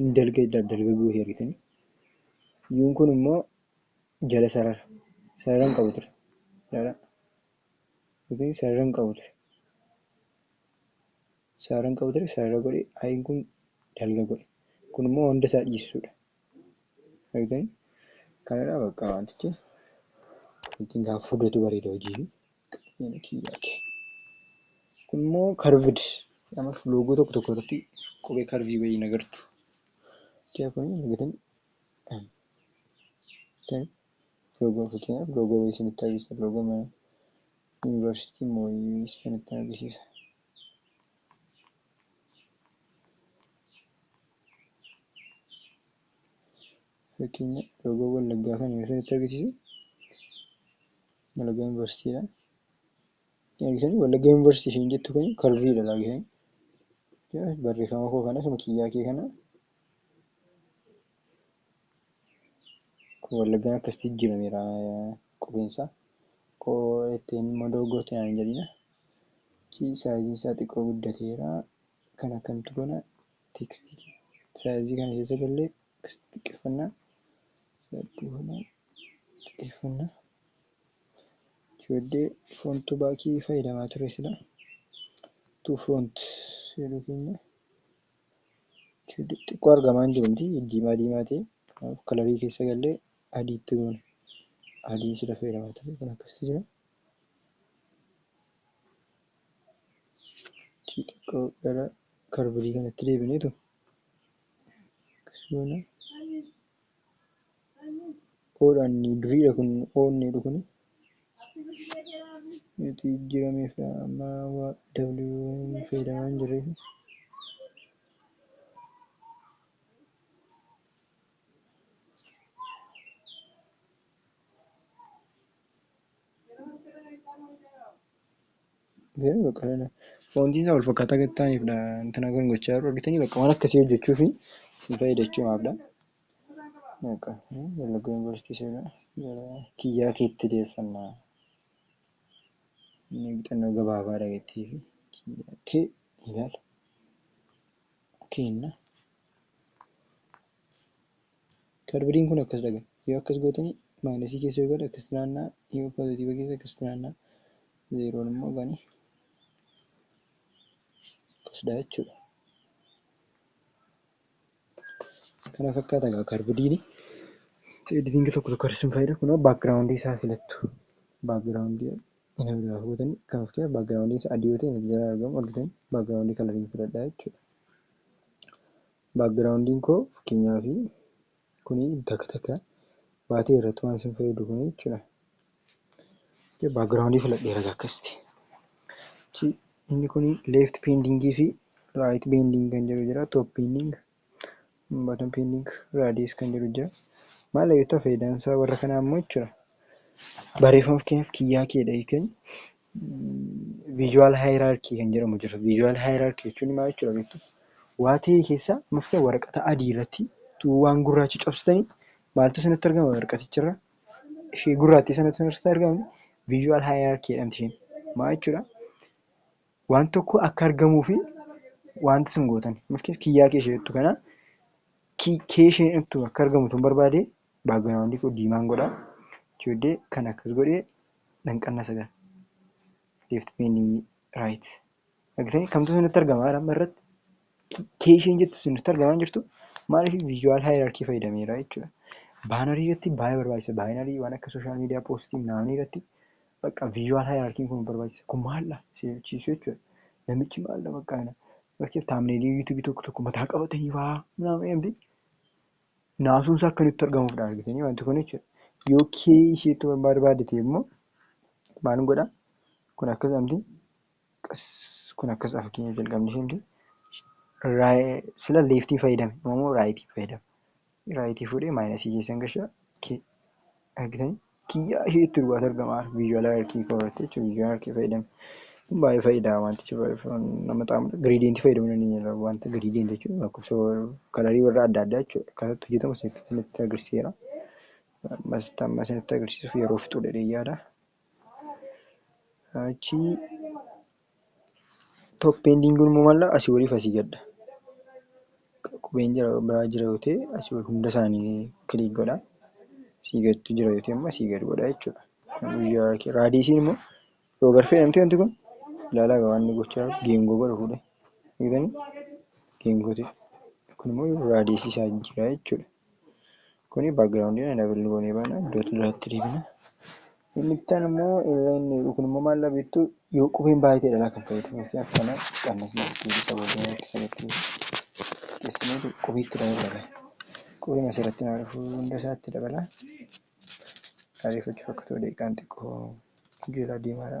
in dalga dalgaguu hin argitanii yuun kun immoo jala sarara sarara hin qabu ture ilaalaa yookiin sarara hin qabu ture sarara hin qabu ture sarara godhe ayin kun dalga godhe kun immoo hunda isaa dhiissuudha argitanii kanadha bakka wantichi ittiin kaa fudatu bareeda hojii Kun immoo karved loogoo tokko tokko irratti qubee karvii wayii hin agartu. Loogoo fakkeenyaaf loogoo wayii isinitti agarsiisa. Loogoo mana yuunivarsiitii moo wayii isinitti agarsiisa. Fakkeenya loogoo wallaggaa kana isinitti agarsiisuu? Wallagga University dha. Argitanii Wallagga University isheen jettu kuni karviidha laagitanii. Barreeffama koo kana suma kiyyaa kee kana kun Wallaggaan akkasitti jijjiirameera qubeensaa. Koo ittiin immoo dogoggorte naan hin jedhina. Achi saayiziin isaa xiqqoo guddateera. Kan akkamtu kana tekstii saayizii kana keessa gallee akkasitti xiqqeeffannaa. Saayizii kana xiqqeeffanna. Ijoollee front to back fayyadamaa ture sila to front jedhu keenya xiqqoo argamaa hin jiru miti diimaa diimaa ta'e kanaaf kalarii keessa gallee adiitti goone adii sila fayyadamaa ture kan akkasitti jira. Ichi xiqqoo gara karbirii kanatti deebineetu akkasuma oodhaan duriidha kun oodniidha kun nuti jijjiirameef amma waa wn fayyadamaa hin jirreef Garuu bakka kana foontii isaa wal fakkaataa gad ta'aniifdha intina kan gochaa jiru argitanii bakka waan akkasii hojjechuu fi isin fayyadachuumaafdha. Bakka Wallagga Yuunivarsiitii seenaa gara kiyyaa keetti deeffannaa inni bixannoo gabaabaa dhageettii fi kiyyaa kee ilaala keenna. Kaarbadiin kun akkas dhagama. Yoo akkas gootani maayinasii keessa yoo gale akkasitti naanna'a, yoo poozatiiva keessa akkasitti naanna'a, zeeroon immoo gani akkas dha jechuudha. Kana fakkaata egaa kaarbadiini. Editingi tokko tokko har'isuun faayida. Kunoo baakgiraawundii isaa filattu. Baakgiraawundii ina biraa gootani kan of keessa baakgiraawundiin isaa adii yoo ta'e natti jalaa argamu argitani baakgiraawundii kalariin filadha jechuudha. Background koo fakkeenyaaf kuni takka takka baatee irratti waan sin fayyadu kuni jechuudha. Background filadheera akkasitti. Inni kuni left pending fi right pending kan jedhu jira. Top pending, bottom pending, radius kan jedhu jira. Maal beektaa faayidaan isaa warra kanaa immoo jechuudha. Barreeffama fakkeenyaaf kiyyaa keedha hiikanii visual hierarchy kan jedhamu jira. Visual hierarchy jechuun maal jechuudha beektu? Waa ta'e keessa mafta waraqata adii irratti tuu waan gurraacha cabsitanii maaltu isinitti argama waraqaticharra? Ishee gurraattii sanatu irratti argama. Visual hierarchy jedhamti isheen. Maal jechuudha? Waan tokko akka argamuu fi wanta isin gootan mafti kiyyaa kee ishee jettu kana kee isheen jettu akka argamu tun barbaade baagiraawundi koo diimaan godha. Ijoollee kan akkas godhee Danqannaa 9. Left penny right. Argitanii kamtu isinitti argama amma irratti? K isheen jettu isinitti argamaa hin jirtu? Maaliif visual hierarchy fayyadameera jechuudha. Baanarii irratti baay'ee barbaachisa. Baayinarii waan akka social media postii naanii irratti bakka visual hierarchy kun barbaachisa. Kun maalla seechiisu jechuudha. Namichi maalla bakka kana. Bakkeef taamneelii yuutuubii tokko tokko mataa qabatanii fa'aa. Naamni Naasuun isaa akka nutti argamuufdha argitanii wanti kun jechuudha. Yoo kee ishee itti barbaade ta'e immoo maal godha? Kun akkas amti qas kun akkas dha fakkeenya jalqabni ishee miti. Sila leeftii fayyadame amma immoo raayitii fayyadama. Raayitii fuudhee maayinasii keessan gasha kee argitanii. kiyyaa ishee itti dhugaatu argama visual hierarchy koo irratti jechuudha visual hierarchy fayyadame kun baay'ee fayyada wantichi baay'ee nama xaamudha gradient fayyadamu dandeenya wanta gradient jechuun lakkoofsa kalarii warra adda addaa jechuudha akkasatti hojjetamu isinitti agarsiiseera ammas amma isinitti agarsiisuuf yeroo fixuu dheedhee yaada achii Top pending kun immoo maalla asii waliif asii gadda. Qubeen jira biraa jira yoo ta'e asii wal hunda isaanii kiliik godha. Asii gadtu jira yoo ta'e immoo asii gad godha jechuudha. Guyyaa kee raadiisiin immoo yoo garfee namti wanti kun ilaalaa waan inni gochaa geengoo godha fuudhee. Eegdanii geengoo ta'e kun immoo raadiisii isaa jijjiiraa jechuudha. Kuni background na double goonee baana iddoo duraatti deebina. Inni itti aanu immoo illeen kun immoo maal dhabeettu yoo qubeen baay'eedha laa kan fayyadamu yookiin akkana qannasni as deebisa boodee akka sanitti qubsineetu qubeetti dabalame. Qubeen asirratti naa dhufuu hunda isaatti dabala. Ariifachuuf akka ta'u daqiiqaan xiqqoo jeelaa deemaara.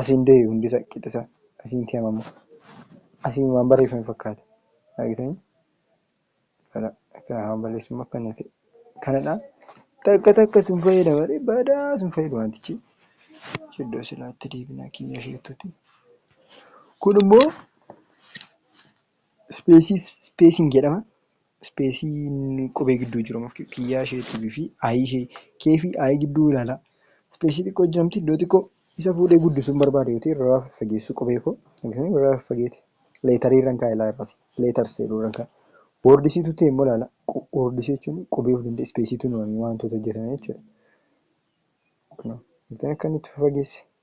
Asiin du'e hundisa qixisa asiin kiyamamo asiin waan barreeffame fakkaata argitanii kana kana haa balleessuun akkana ta'e kanadha takka takka sun fayyada malee badaa sun fayyadu wantichi iddoo silaatti deebinaa kiyya isheetuti kun immoo Ispeesii ispeesiin jedhama. Ispeesiin qubee gidduu jiru kiyyaa isheetii fi i ishee k fi i gidduu ilaalaa. Ispeesii xiqqoo jirti iddoo xiqqoo isa fuudhee guddisuun barbaade yoo ta'e irraa faggeessuu qubee koo irraa faggeeti leetarii irran kaa'a ilaa irraas leetars jedhuu irran kaa'a. Woordisiitu ta'e immoo ilaala woordisii jechuun qubee of danda'e ispeesiitu hin uumamiin waantoota hojjetame jechuudha. Akkan itti fageesse.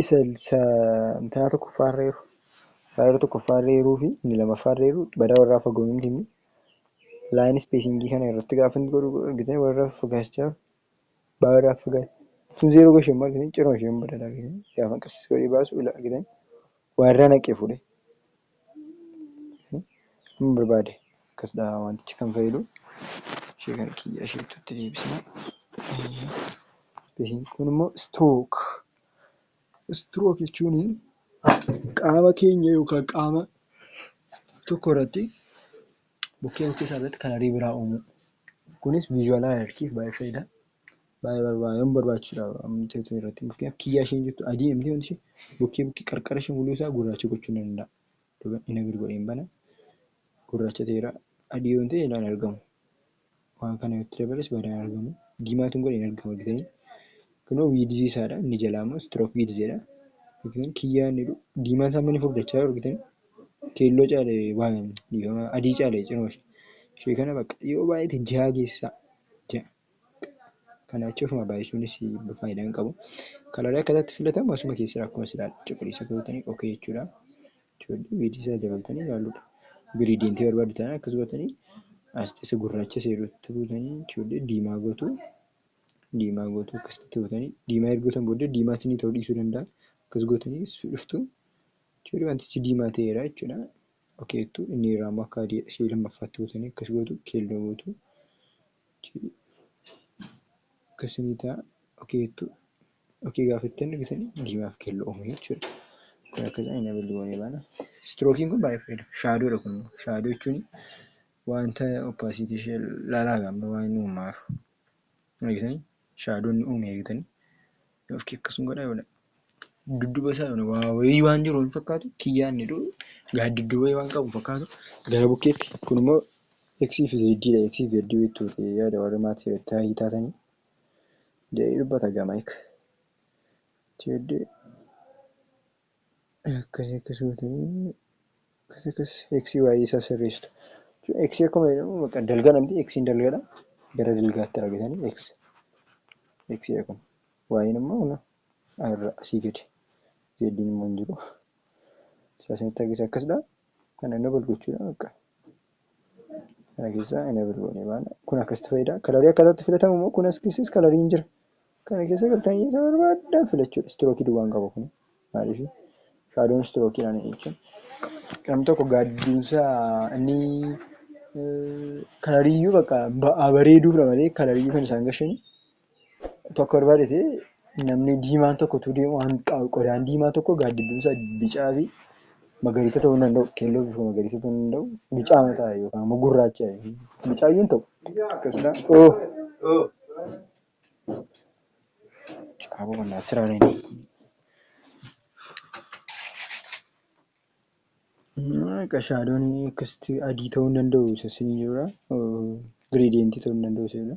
Isa isa intinaa tokkoffaa irra eeru. Isaa irra tokkoffaa irra eeruu fi inni lamaffaa irra eeru badaa warraa fagoo hin tinni. Line spacing kana irratti gaafa inni godhu argitee warra fagaachaa baa warraa fagaachaa. Sun zeeroo gashee immoo argitee ciroo ishee hin badala argitee gaafa qassisi godhee baasu ila argitee warraa naqee fuudhee. Amma barbaade akkas dha wantichi kan fayyadu. Ishee kana kiyya isheettutti deebisna. Kun immoo istirook. Istirook jechuun qaama keenya yookaan qaama tokko irratti bukkee bukkee isaa irratti kan ariibaa uumuu. Kunis viizhiyaalaa alerjiif baay'ee fayyada. Baay'ee barbaadan barbaachisuudha amtee tun irratti fakkeenyaaf kiyyaa isheen jirtu adii amtee wanti ishee bukkee bukkee qarqara ishee muluu isaa gurraacha gochuu nan danda'a. Duuba ina bir godheen bana gurraacha ta'eera adii yoon ta'e ilaan argamu. Waan kana yoo itti dabales badaan argamu. Diimaatuun godheen argama argitanii. Kunoo wiidzii isaadha inni jalaa immoo stroke width jedha. Argitan kiyyaa inni jedhu diimaa isaa mani furdachaa jiru argitan keelloo caale waan dhiifama adii caale cinoo ishee kana bakka yoo baay'ate jaha geessaa jaha. Kana jechuun ofuma baay'isuunis faayidaa hin qabu. Kalarii akkaataa itti filatamu asuma keessaa akkuma silaa cuquliisa gootanii okay jechuudha. Ijoollee weedii isaa dabaltanii ilaaluudha. Giriidiyentii barbaaddu taanaan akkas gootanii as keessa gurraacha isa jedhutti gootanii ijoollee diimaa gootu. Diimaa gootu akkasitti gootanii diimaa erga gootan booddee diimaa isinii ta'uu dhiisuu danda'a. Akkas gootanii as dhuftu. Ijoollee wantichi diimaa ta'eera jechuudha. Okay jettu inni irraa immoo akka adiidha ishee lammaffaatti gootanii akkas gootu keelloo gootu. Achii akkasinitaa dhokee jettuu dhokee gaafattan dhugitanii diimaaf keelloo uumee jechuudha. Kun akka ta'e nama goonee baana. Istirookiin kun baay'ee fayyada. Shaadoodha kun immoo. Shaadoo jechuun wanta oppaasiitii ishee laalaa gaamma waan inni uumaaru. Argitanii? Shaadoon uumee argitanii? Ofki akkasun godha yoona dudduba isaa yoona waa wayii waan jiru hin fakkaatu kiyyaanni dhu gaaddiddu wayii waan qabu fakkaatu gara bukkeetti kun immoo x fi z dha x fi z beektu yaada warri maatii irratti haayii taatanii jedhee dubbata gama ik jeeddee Akkas akkas gootanii akkas akkas x y isaa sirreessitu. Jechuun x akkuma jedhamu bakka dalgaa namti x dalgadha gara dalgaatti argitanii x x kun y immoo kun irra asii gadi z immoo hin jiru. Isaa sanitti argisa akkasidha. Kana enabol gochuudha bakka. kana keessaa enable goonee baana kun akkasitti fayyada kalarii akkaataatti filatamu immoo kun as keessas kalariin jira kana keessa galtanii isa barbaadan filachuudha istirookii duwwaan qaba kun maaliif shaadoon istirookii ani jechuun qam tokko gaaddiinsa inni kalariyyuu bakka ba'aa bareeduuf malee kalariyyuu kan isaan gashanii tokko irraa dhise namni diimaan tokko utuu deemu waan qa- qodaan diimaa tokko gaaddidduun isaa bicaa fi magariisa ta'uu hin danda'u. Keelloo fi magariisa ta'uu hin danda'u. Bicaa mataa yookaan immoo gurraacha bicaa iyyuu hin ta'u. Akkasumas oo caaboo mannaa siraan hin qashaadoon akkasitti adii ta'uu hin danda'u isa sinii jirudha. Giriideentii ta'uu hin danda'u isa jedha.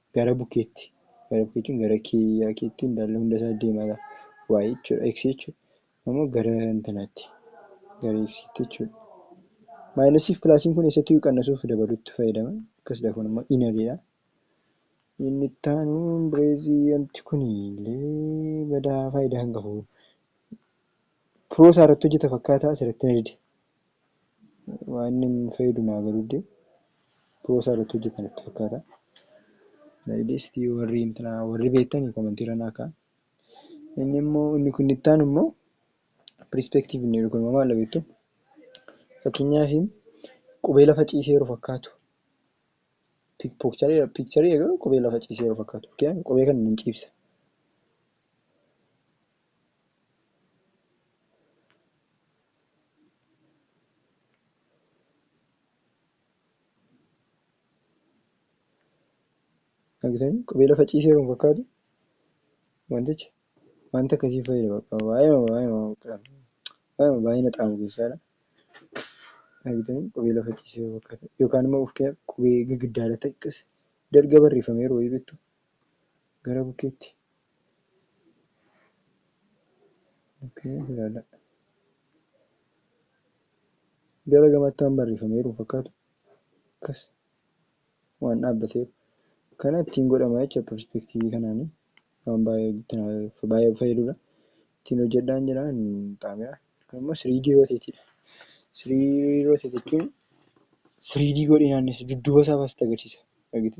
Gara bukeetti, gara bukee jechuun gara kiyyaa keetti indaalla hunda isaa deemata. Y jechuudha. X jechuun ammoo gara intanaatti. Gara X tti jechuudha. Maayinasii fi pilaasiin kun eessattiyyuu qannasuuf dabaluutti fayyadama. Akkas dafuun immoo inaliidha. Inni itti aanuun bireezii wanti kun illee badaa faayidaa hin qabu. Piroo isaa irratti hojjeta fakkaata asirratti na dide. waa inni nu fayyadu naa galuudde pro isaa irratti hojjetan natti fakkaata layilisti warri intina warri beektan komantii irra naa ka'a inni immoo inni kun itti aanu immoo perspective inni jedhu kun immoo maal beektu fakkeenyaaf qubee lafa ciisee yeroo fakkaatu piikcharii piikcharii garuu qubee lafa ciisee yeroo fakkaatu qubee kana nan ciibsa Argitanii qubee lafa ciisee kan fakkaatu wantichi wanta akkasii fayyada bakka baay'ee baay'ee baay'ee baay'ina xaamu keessaadha. Argitanii qubee lafa ciisee fakkaata yookaan immoo qubee girgiddaa irratti akkasi dalga barreeffameeru wayii beektu gara bukkeetti okay, ilaala. gara gamaatti waan barreeffameeru fakkaatu akkas waan dhaabbateeru kana ittiin godhama jecha perspektiivii kanaanii waan baay'ee fayyadudha ittiin hojjedhaan jira xaamiyaa kun immoo sirii dii rooteetiidha sirii rooteet jechuun sirii dii godhee naannessa dudduuba isaa faasitti agarsiisa argite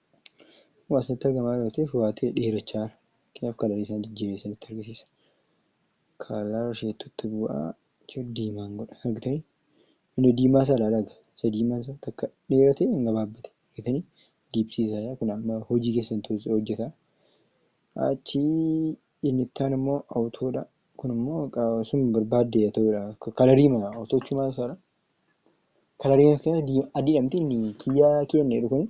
Waa isinitti argamaa yoo ta'e fo'aatee dheerachaa kanaaf kalarii isaa jijjiiree isinitti argisiisa. Kalar isheettutti bu'aa jechuun diimaan godha argitanii inni diimaa isaa ilaalaa egaa isa diimaan isaa takka dheerate hin gabaabbate argitanii diipsii isaa yaa kun amma hojii keessan tuusi hojjeta. Achi inni ittaan immoo awutoodha kun immoo sun barbaadde yaa ta'uudha kalarii mana awutoochumaa isaadha. Kalarii akka adiidha miti inni kiyyaa keenya jedhu kun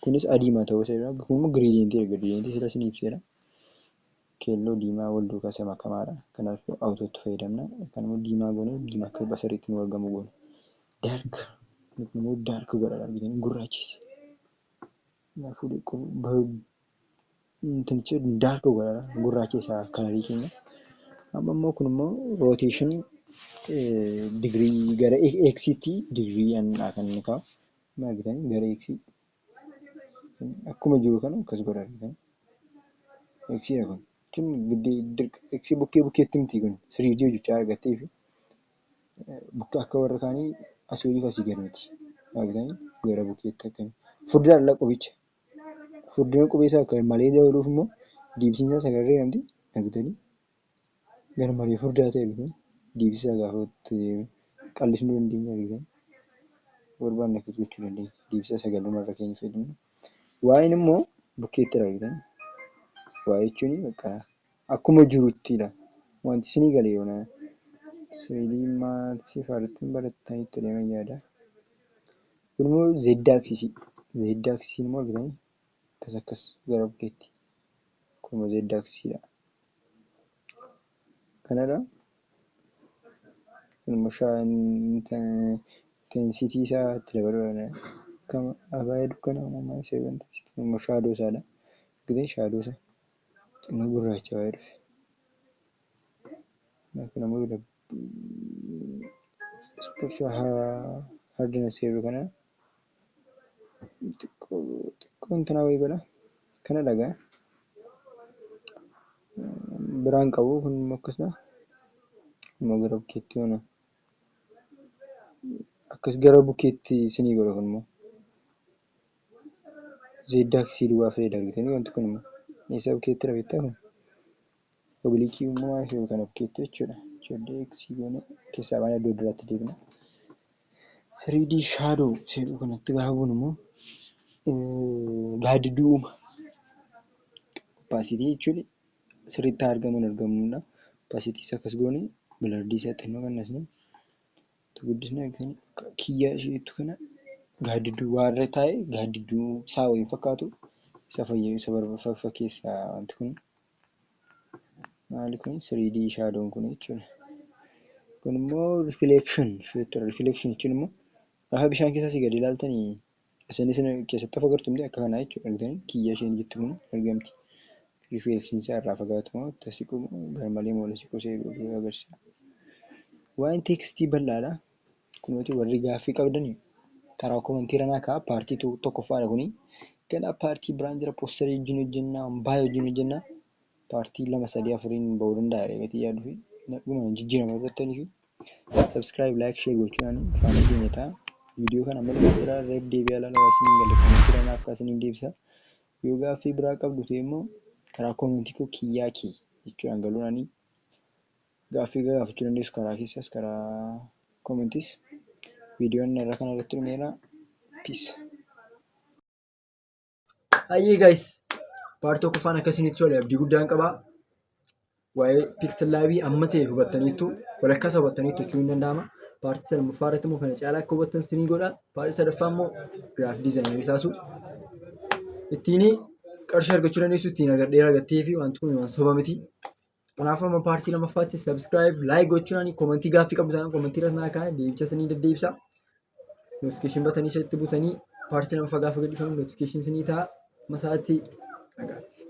kunis adiima ta'uu isa jira kun immoo giriidiintii erga giriidiintii sila sin ibseera keelloo diimaa wal duukaa isa makamaadha kanaaf awutootti fayyadamna kan immoo diimaa goone diimaa akka basariitti nu argamu goona daark kun immoo daark godha argitanii gurraachessa kanaafuu Namtichi daarka godhata gurraachi isaa kanarii keenya. Amma immoo kun immoo rooteeshinii digirii gara eeksiitti digirii anidha kan inni kaa'u. Amma argitanii gara eeksii akkuma jiru kana akkas godha argitanii. Eeksiidha kun. Jechuun giddii dirqa eeksii bukkee bukkeetti miti kun siriidii hojjechaa argattee fi bukka akka warra kaanii asii oliif asii gad miti. Argitanii gara bukkeetti akkana. Furdaan ala qoficha. Furdina qubeessaa kan malee dabaluuf immoo deebisiinsaa sagal jedhamti. Nagdali garmalee furdaa ta'e argitan deebisaa gaafa qallisnuu dandeenya argitan barbaanne akkas gochuu dandeenya. Deebisaa sagaluma irra keenya fayyadamna. Waa'een immoo bukkeetti argitan. Waa jechuun bakka Akkuma jirutti ila. Wanti isinii gale yoona sirelii maathsii fi arithmetic barattan itti deeman yaada. Kun immoo z axis z axis immoo argitanii akkas akkas gara bukkeetti kun immoo z axis dha. Kanadha. Kun immoo shaan intensity isaa itti dabaluudha. Akkama abaya dukkana uumamaa isa intensity kun immoo shaadoo isaadha. Argitanii shaadoo isaa. Xinnoo gurraachawee dhufe. Kanaaf kun ammoo spiritual hardness jedhu kana xiqqoo xiqqoo intanaa wayii godha. Kana dhagaa. Biraan qabu kun immoo akkasuma immoo gara bukkeetti mana akkas gara bukkeetti sinii godha kun immoo. Zeeddaa kisii duwwaa fayyadami jetanii wanti kun immoo eessa bukkeetti rafettaa kun obliikii immoo waan ta'eef kana bukkeetti jechuudha ijoollee eksii goonee keessaa baanee iddoo duraatti deebina siriidii shaadoo seedhuu kanatti gaafa buunu immoo gaaddidduu uuma oppaasiitii jechuun sirriitti haa argamu hin argamu oppaasiitii isaa akkas goonee bilardiisaa xinnoo qannasnee Itti guddisnee argitanii akka kiyyaa ishee jettu kana gaaddidduu waa irra taa'e gaaddidduu isaa wayii fakkaatu isa fayyee isa barbafa fakkeessa wanti kun maali kun 3D shaadoon kun jechuudha. Kun immoo reflection isheetti reflection jechuun immoo gaafa bishaan keessa asii gadi ilaaltanii Isin isin keessatti of agartu miti akka kanaa jechuudha argitanii kiyyaa isheen jettu kun argamti rifeensiin isaa irraa fagaatu moo itti siqu moo garmalee moo siqu see godhu agarsiisa waa'een teekstii bal'aadha kunooti warri gaaffii qabdanii karaa komantii ranaa kaa paartii tokkoffaadha kunii ganaa paartii biraan jira poostarii wajjin hojjennaa baay'ee wajjin hojjennaa paartii lama sadii afuriin ba'uu danda'a reegatii yaaduu fi dhuma jijjiirama irratti fi Subscribe, like, share gochuudhaan faana keenya ta'a. Viidiyoo kana amma dhumaatti irra deebi'aa ilaalaa waan isiniin galle koomentiidhaan naaf kaasaa isiniin deebisa. Yoo gaaffii biraa qabdu ta'e immoo karaa koomentii koo kiyyaa kee jechuudhaan galuudhaan gaaffii gaafachuu dandeessu karaa keessas karaa koomentis. Viidiyoon irra kana irratti dhumeera. Peace. Hayyee guys paartii tokkoffaan akkasinitti tole abdii guddaan qabaa. Waa'ee pixel laabii amma ta'e hubattaniittu walakkaa isaa hubattaniittu jechuun hin danda'ama. Paartii salmaffaa irratti immoo kana caalaa akka hubattan sinii godha. Paartii sadaffaa immoo giraafii diizaayinii isaasu ittiin qarshii argachuu dandeessu ittiin argadhee argattee fi wanti kun waan soba miti. Kanaaf amma paartii lammaffaatti subscribe like gochuudhaan komentii gaaffii qabdu taanaan komentii irratti naa kaa'aa deebicha isinii deddeebisa. Notification batanii isatti butanii paartii lammaffaa gaafa gadhiifamu notification isinii ta'a. Masaatti nagaatti.